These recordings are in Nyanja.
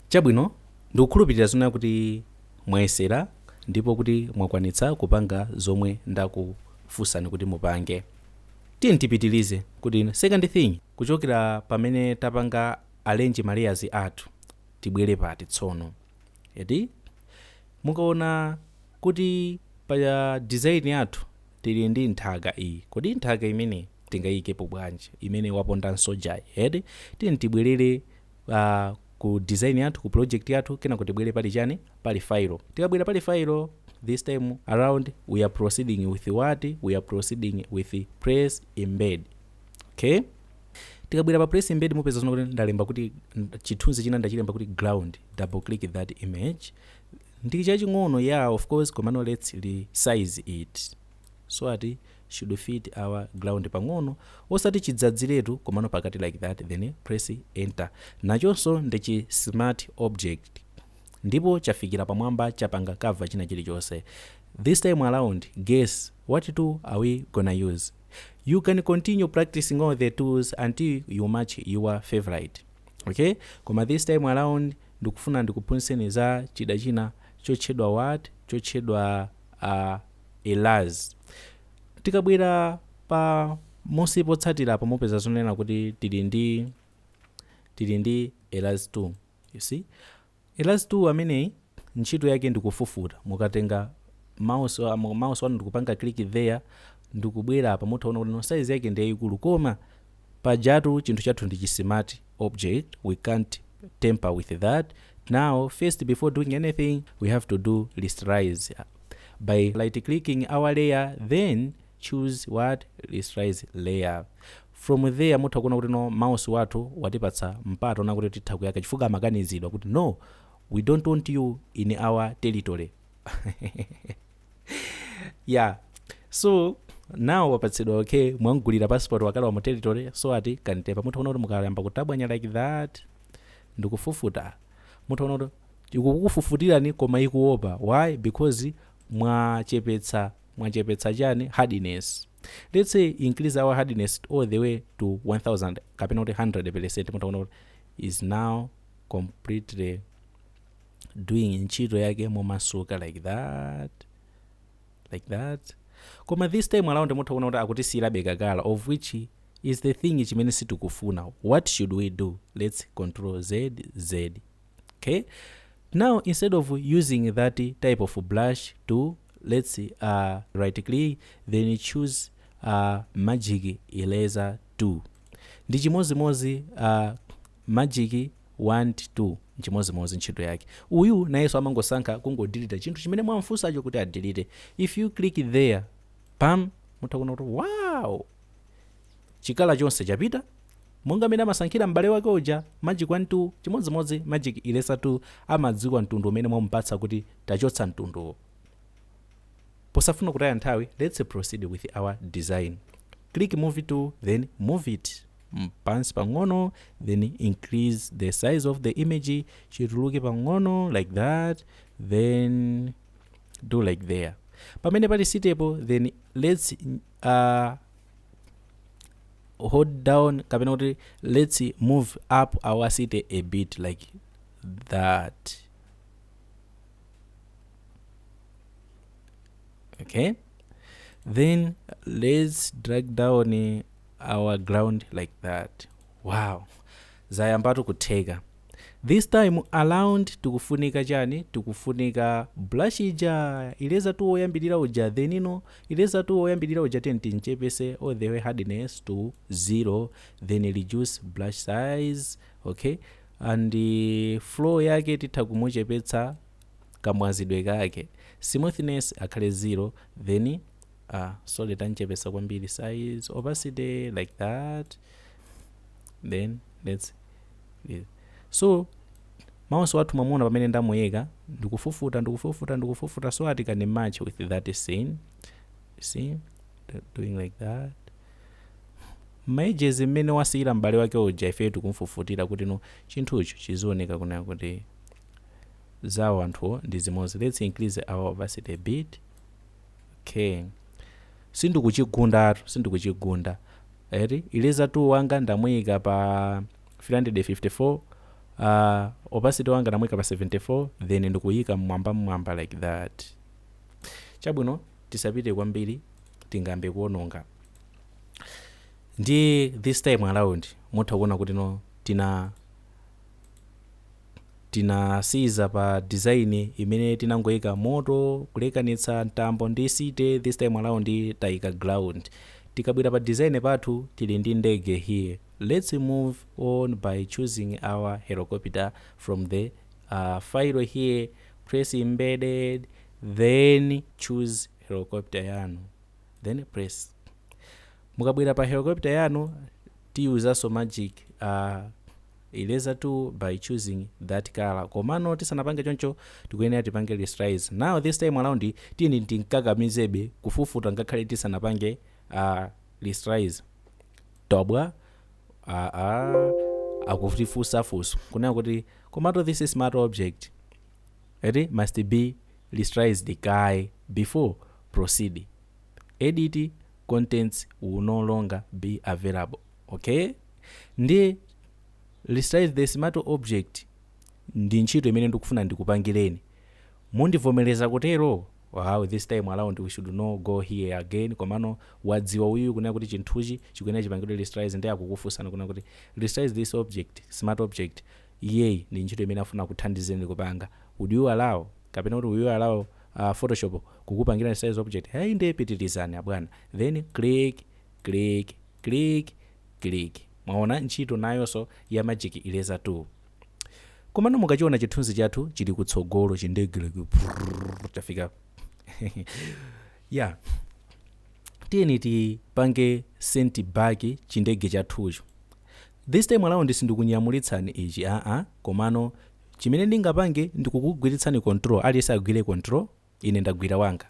Chabwino, ndikukhulupirira zonena kuti mwayesera ndipo kuti mwakwanitsa kupanga zomwe ndakufunsani kuti mupange. Tiyeni tipitilize kuti second thing kuchokera pamene tapanga arrange ma layers athu tibwere apa tsono. Eti? Mukaona kuti pa design yathu tili ndi nthaka iyi, kodi nthaka imeneyi tingaiyikepo bwanji imene waponda nsojayi? Eti? Tiyeni tibwerere a Ku design yathu ku project yathu kenako tibwere pali chani pali failo tikabwera pali failo this time around we are proceeding with what we are proceeding with place embedded okay tikabwera pa place embedded mupeza zona kuti ndalemba kuti chithunzi china ndachilemba kuti ground double click that image ndi chaching'ono yeah of course komano let's resize it so ati should fit our ground pang'ono osati chidzadziletu komano pakati like that then press enter nachonso ndi chi smart object ndipo chafikira pamwamba chapanga cover china chilichonse this time around guess what tool are we gonna use you can continue practicing all the tools until you match your favorite okay koma this time around ndikufuna ndikuphunzitseni za chida china chotchedwa what chotchedwa a Eraser. Tikabwera pamunsi potsatira apo mupeza zonena kuti tili ndi tili ndi Eraser tool you see Eraser tool ameneyi ntchito yake ndikufufuta mukatenga mouse wa- mu- mouse wanu ndikupanga click there ndikubwera apa mutha kuona kuti no size yake ndi yayikulu koma pajatu chinthu chathu ndi chi smart object we can't tamper with that, now first before doing anything we have to do rasterize by right clicking our layer then choose what rasterize layer from there mutha kuona kuti no mouse wathu watipatsa mpata onena kuti titha kuyaka chifukwa amakanizidwa kuti no we don't want you in our territory yeah so now wapatsidwa okay mwamgulira passport wakalowa mu territory so ati kantepa mutha kuona kuti mukayamba kutabwanya like that ndikufufuta mutha kuona kuti ikukufufutirani koma ikuopa why because mwachepetsa mwachepetsa chani hardness let's say increase our hardness all the way to 1000 kapena kuti 100 percent mutha kuona kuti is now completely doing ntchito yake momasuka like that like that koma this time around mutha kuona kuti akutisiyirabe kakala of which is the thing chimene sitikufuna what should we do let's control z z okay now instead of using that type of brush tool let's see, uh, right click then choose uh, magic eraser tool ndi chimozimozi uh, magic wand tool nchimodzimodzi ntchito yake uyu nayenso amangosankha kungodilita chinthu chimene mwamfunsacho kuti adilite if you click there pam mutha kuona kuti wow chikala chonse chapita monga mmene amasankhira m'bale wake uja magic wand tool chimodzimodzi magic eraser tool amadziwa mtundu umene mwamupatsa kuti tachotsa mtunduwo posafuna kutaya nthawi let's proceed with our design click move tool then move it pansi pang'ono then increase the size of the image chituluke pang'ono like that then do like there pamene pali sitepo then let's uh, hold down kapena kuti let's move up our city a bit like that okay then let's drag down our ground like that wow zayambatu kutheka this time around tikufunika chani tikufunika brush ija eraser tool woyambirira uja then ino eraser tool woyambirira uja then timchepetse all the way hardness to zero then reduce brush size okay and uh, flow yake titha kumuchepetsa kamwazidwe kake smoothness akhale zero then ah sorry tamchepetsa kwambiri size opacity like that then let's leave. so mouse wathu mwamuona pamene ndamuyika ndikufufuta ndikufufuta ndikufufuta so that it can match with that scene see Do- doing like that ma edges mmene wasiyira m'bale wake uja ifeyo tikumfufutira kuti no chinthucho chizioneka kunena kuti zawo anthuwo ndi zimodzi let's increase our opacity a bit ok sindikuchigundatu sindikuchigunda eti eraser tool wanga ndamuyika pa 354 uh, opacity wanga ndamuyika pa 74 then ndikuyika mmwamba mmwamba like that chabwino tisapite kwambiri tingambe kuononga ndi this time around mutha kuona kuti no tina tinasiyiza pa design imene tinangoika moto kulekanitsa mtambo ndi city this time around taika ground tikabwera pa design pathu tili ndi ndege here let's move on by choosing our helicopter from the uh, file here place embedded then choose helicopter yanu then place mukabwera pa helicopter yanu tiyuzaso magic uh, Eraser tool by choosing that colour komano tisanapange choncho tikuyenera tipange rasterize now this time around tiyeni timkakamizebe kufufuta ngakhale tisanapange uh, rasterize tobwa aa akutifunsa funso kunena kuti komato this smart object eti must be rasterized kaye before proceed edit contents will no longer be available ok ndiye resize the smart object ndi ntchito imene ndikufuna ndikupangireni mundivomereza kutero wow this time around we should no go here again komano wadziwa uyu kunena kuti chinthuchi chikuyenera chipangidwe resize ndiye akukufunsani kunena kuti resize this object smart object iyeyi ndi ntchito imene afuna akuthandizeni kupanga would you allow kapena kuti will you allow uh, photoshop kukupangirani resize object hey ndiye pitirizani abwana then click click click click mwaona ntchito nayonso ya magic eraser tool komano mukachiona chithunzi chathu chili kutsogolo chindegeleke prrrr, chafika ya tiyeni tipange send back chindege chathucho this time around sindikunyamulitsani ichi aa komano chimene ndingapange ndikukugwiritsani control aliyense agwire control ine ndagwira wanga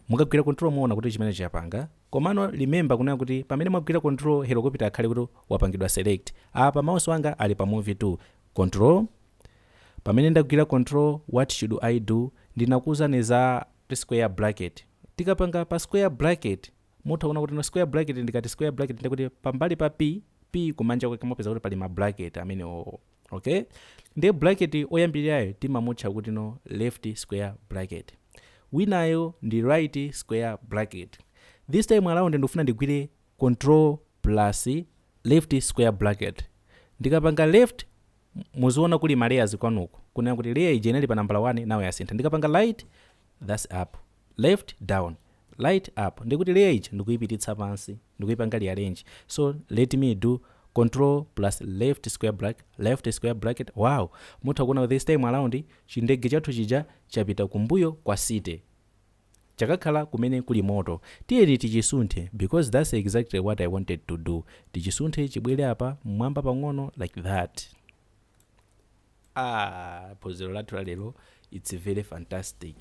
mukagwira control muona kuti chimenechi chapanga komano remember kunena kuti pamene mwagwira control helicopter akhale kuti wapangidwa select apa mouse wanga ali pa move tool control pamene ndagwira control what should i do ndinakuuzani za square bracket tikapanga pa square bracket Mutha kuona kutino square bracket ndikati square bracket ndi kuti pambali pa P, P kumanja kwake mupeza kuti pali ma bracket amenewowo. Okay? Ndiye bracket oyambirirayo timamutcha kutino left square bracket. Winayo ndi right square bracket. This time around ndikufuna ndigwire control plus left square bracket. Ndikapanga left muziona kuli ma layers kwanuko. Kunena kuti layer ija inali pa nambala 1 now yasintha. Ndikapanga right that's up. left down right up ndiye kuti layer ija ndikuipititsa pansi ndikuipanga rearrange so let me do control plus left square brack left square bracket wow mutha kuona kuti this time around chindege chathu chija chapita kumbuyo kwa city chakakhala kumene kuli moto tiyeni tichisunthe because that's exactly what i wanted to do tichisunthe chibwere apa mmwamba pang'ono like that Aaa phunziro lathu la lero its very fantastic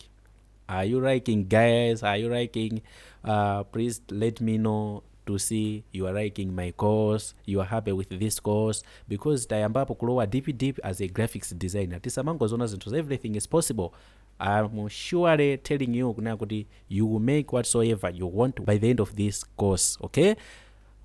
are you liking guys are you liking uh, please let me know to see you are liking my course you are happy with this course because tayambapo kulowa deep deep as a graphics designer tisamangozona zinthu za everything is possible I'm surely telling you kunena kuti you will make whatsoever you want by the end of this course okay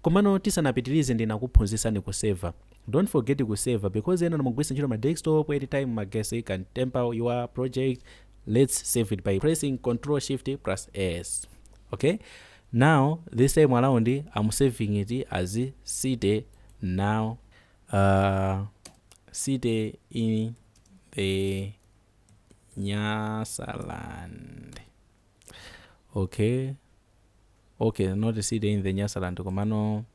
komano tisanapitirize ndinakuphunzitsani kuseva Don't forget ku saver because enanu mukugwiritsa ntchito ma desktop anytime magesi can temper your project let's save it by pressing control shift plus s okay now this time around i'm saving it as city now uh, city in the nyasaland okay okay not city in the nyasaland komano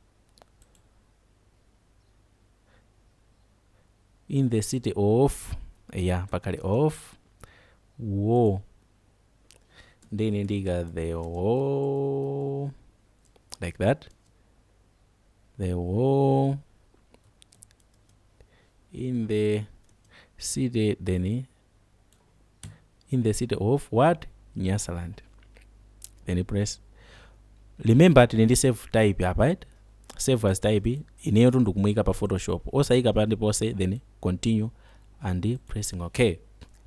in the city of eya pakhale of war ndi ine ndiyika the war like that the war in the city then in the city of what nyasaland then press remember tili ndi save type apa eti save as type ineyotu ndikumuyika pa photoshop osayika pa ndiponse then continue and pressing okay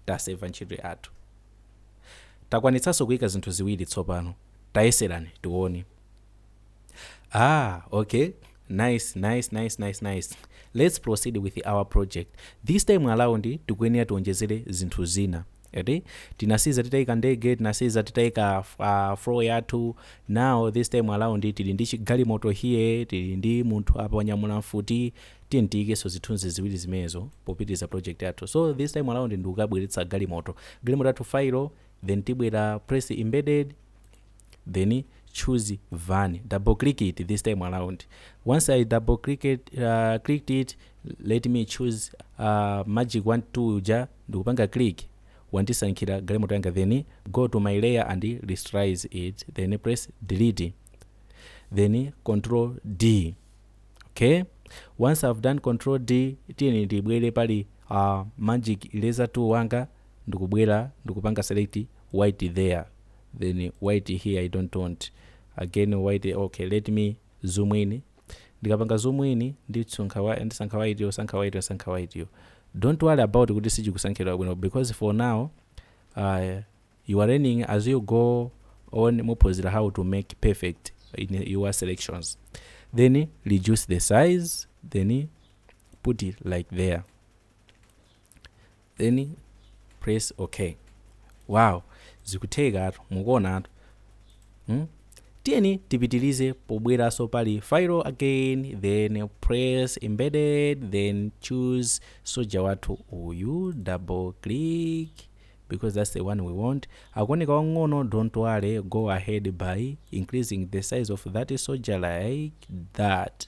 taseva ntchito yathu takwanitsanso kuyika zinthu ziwiri tsopano tayeserani tione Ah, okay. Nice, nice, nice, nice, nice. Let's proceed with our project. This time around tikuyenera tiwonjezere zinthu zina. Eti tinasiya titaika ndege, tinasiya titaika uh, flow yathu. Now this time around tili ndi chigalimoto here, tili ndi munthu apa wanyamula mfuti, tiyeni tiikenso zithunzi ziwiri zimenezo popitiliza project yathu. So this time around ndikubweretsa galimoto. Galimoto yathu failo, then tibwera place embedded, then choose Van double click it this time around once I double click it, uh, clicked it let me choose uh, magic 1 2 uja ndikupanga click wandisankhira galimoto yanga then go to my layer and rasterize it then press delete then control D okay once I've done control D tiyeni ndibwere pali uh, magic eraser tool wanga ndikubwera ndikupanga select white there then white here i dont want again white ok let me zoom in ndikapanga zoom in ndisankha wa ndisankha waitiyo usankha waitiyo usankha waitiyo dont worry about kuti sichikusankhidwa bwino because for now uh, you are learning as you go on muziphunzira how to make perfect in your selections then reduce the size then put it like there then press ok wow zikuthekatu mukuonatu hmm? tiyeni tipitilize pobweraso pali file again then press embedded then choose soja wathu uyu double click because that's the one we want akuoneka wang'ono don't worry go ahead by increasing the size of that soja like that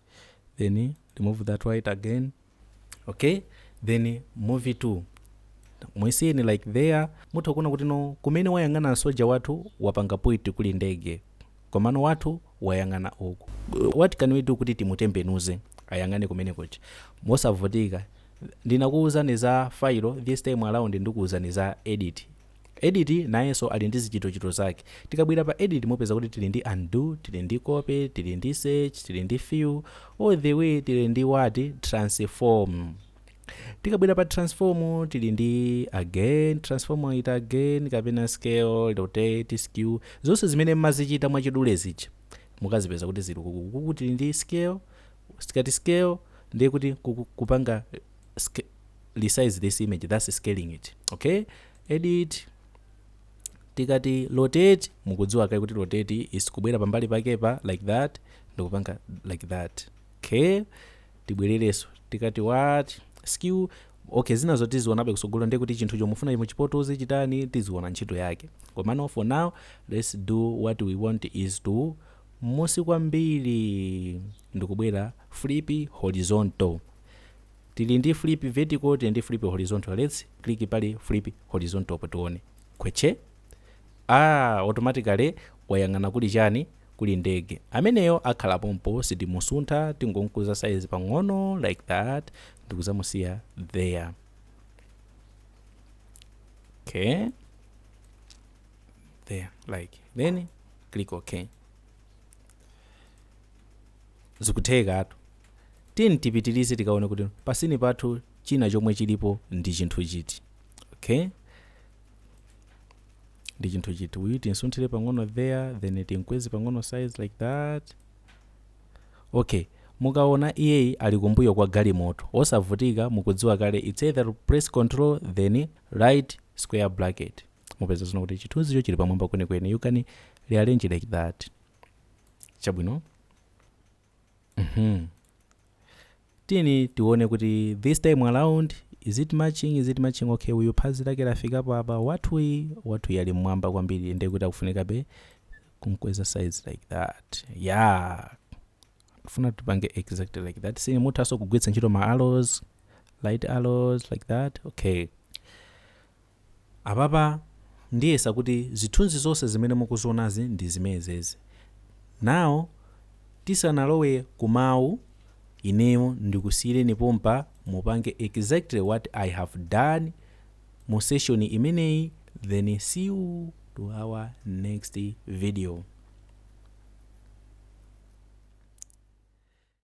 then remove that white again okay then move timusiyeni like there mutha kuona kuti no kumene wayang'ana soja wathu wapanga point kuli ndege komano wathu wayang'ana uku what can we do kuti timutembenuze ayang'ane kumene kuja mosavutika ndinakuwuzani za failo this time around ndikuwuzani za edit Edit nayenso ali ndi zichitochito zake. Tikabwera pa edit mupeza kuti tili ndi undo, tili ndi copy, tili ndi search, tili ndi fill, all the way tili ndi what? Transform. Tikabwera pa transform tili ndi again, transform it again, kapena scale, rotate, skew, zonse zimene mumazichita mwachidule zija mukazipeza kuti zili uku. Uku tili ndi scale, tikati scale ndiye kuti kupanga resize this image that's scaling it okay edit tikati rotate mukudziwa kale kuti rotate is kubwera pambali pake apa like that ndikupanga like that okay tibwererenso tikati what skew okay zina zoti tizionabe kutsogolo ndiye kuti chinthu chomwe mufuna muchipotoze chitani tiziona ntchito yake komano for now let's do what we want is mmunsi kwambiri ndikubwera flip horizontal Tili ndi flip vertical tili ndi flip horizontal let's click pa flip horizontal po tione khwetche Aaa automatically wayang'ana kuli chani kuli ndege ameneyo akhala pompo sitimusuntha tingomukuza size pang'ono like that ndikudzamusiya there okay there like then click okay Zikuthekatu. Tiyeni tipitilize tikaone kuti pa sini pathu china chomwe chilipo ndi chinthu chiti. Okay? Ndi chinthu chiti. Uyu tinsunthire pang'ono there, then tinkweze pang'ono size like that. Okay. Mukaona iyeyi ali kumbuyo kwa galimoto. Osavutika mukudziwa kale it's either to press control then right square bracket. Mupezano kuti chithunzicho chili pamwamba kwenikweni. You can rearrange like that. chabwino mhm tiyeni tione kuti this time around is it matching is it matching okay uyu phazi lake lafika pa apa wathuyi wathuyi ali mmwamba kwambiri ndiye kuti akufunikabe kumkweza size like that yeah funa tipange exactly like that sini muthanso kugwiritsa ntchito ma arrows right arrows like that okay Apapa ndiyesa kuti zithunzi zonse zimene mukuzionazi ndi zimenezezi. Now tisanalowe ku mawu, ineyo ndikusiyireni pompa mupange exactly what I have done mu session imeneyi then see you to our next video.